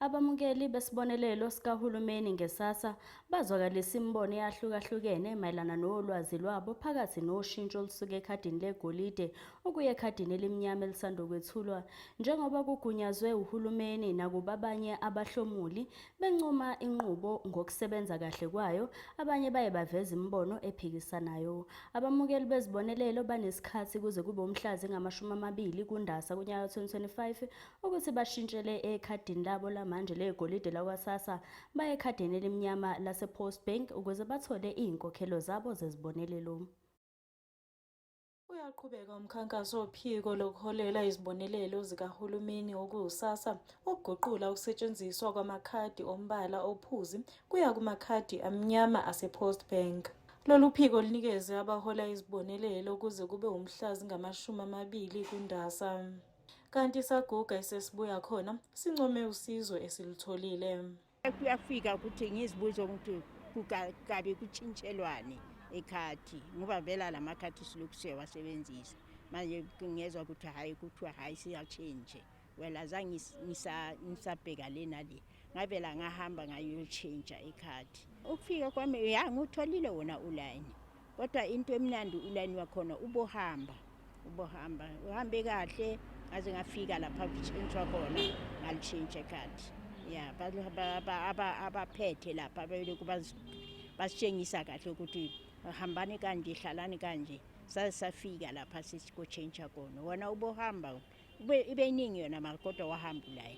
Abamukeli besibonelelo sikahulumeni ngesasa bazwakalisa imibono eyahlukahlukene mayelana nolwazi lwabo phakathi noshintsho olusuka ekhadini legolide ukuya ekhadini elimnyama elisandokwethulwa njengoba kugunyazwe uhulumeni nakuba abanye abahlomuli bencoma inqubo ngokusebenza kahle kwayo abanye baye baveza imibono ephikisanayo abamukeli bezibonelelo banesikhathi kuze kube umhlazi ngamashumi amabili kundasa kunyaka 2025 ukuthi bashintshele ekhadini labo lamanje legolide lakwaSASSA baye ekhadini elimnyama lasePost Bank ukuze bathole izinkokhelo zabo zezibonelelo. Uyaqhubeka umkhankaso wophiko lokuholela izibonelelo zikahulumeni okuwuSASSA ukuguqula ukusetshenziswa kwamakhadi ombala ophuzi kuya kumakhadi amnyama asePost Bank. Lolu phiko lunikeze abahola izibonelelo kuze kube wumhla zingamashumi amabili kuNdasa. Kanti saguga esesibuya khona sincome usizo esilutholile. Kuyafika ukuthi ngizibuze ukuthi kukabe kutshintshelwane ekhathi ngoba vela la makhathi silokhu siyawasebenzisa manje ngezwa ukuthi hhayi kuthiwa hhayi siyatshintshe well azange ngisabheka le nale ngavela ngahamba ngayotshintsha ekhathi ukufika kwami ya ngiwutholile wona ulayini Kodwa into emnandi ulayini wakhona ubohamba ubohamba uhambe kahle ngaze ngafika lapha kuchintshwa khona ngalishintshe khadi ya abaphethe lapha belokhu basitshengisa kahle ukuthi hambani kanje hlalani kanje saze safika lapha sisikotshentsha khona wona ubohamba ibe iningi yona mara kodwa wahamba ulayi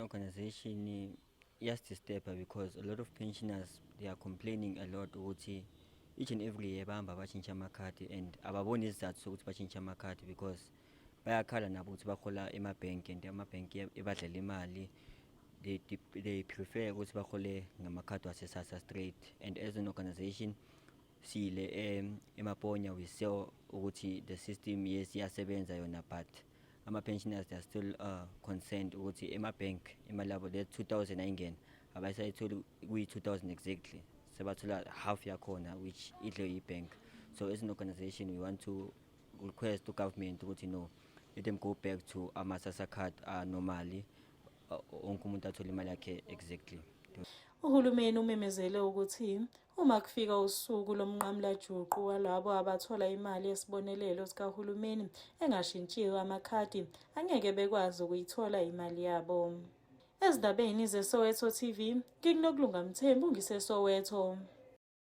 Organization iyasidisturbha because a lot of pensioners they are complaining a lot ukuthi each and every year bahamba batshintsha amakhadi and ababoni isizathu sokuthi batshintshe amakhadi because bayakhala nabo ukuthi bahola emabhenki and amabhenki ebadlela imali they, they prefer ukuthi bahole ngamakhadi wasesasa straight and as an organization sile emaponya we saw ukuthi the system yes iyasebenza yona but ama-pensioners they are still uh, concerned ukuthi ema-bank imali yabo le 2000 ayingena abayisayitholi kuyi-2000 exactly sebathola half yakhona which idle yi-bank so as an organization we want to request to government ukuthi no let them go back to ama-sasa card anormally uh, wonke umuntu athole imali yakhe exactly Uhulumeni umemezele ukuthi Uma kufika usuku lomnqamulajuqu walabo abathola imali yesibonelelo sikahulumeni engashintshiwe amakhadi, angeke bekwazi ukuyithola imali yabo. Ezindabeni zeSoweto TV, ngikuNokulunga Mthembu ngiseSoweto.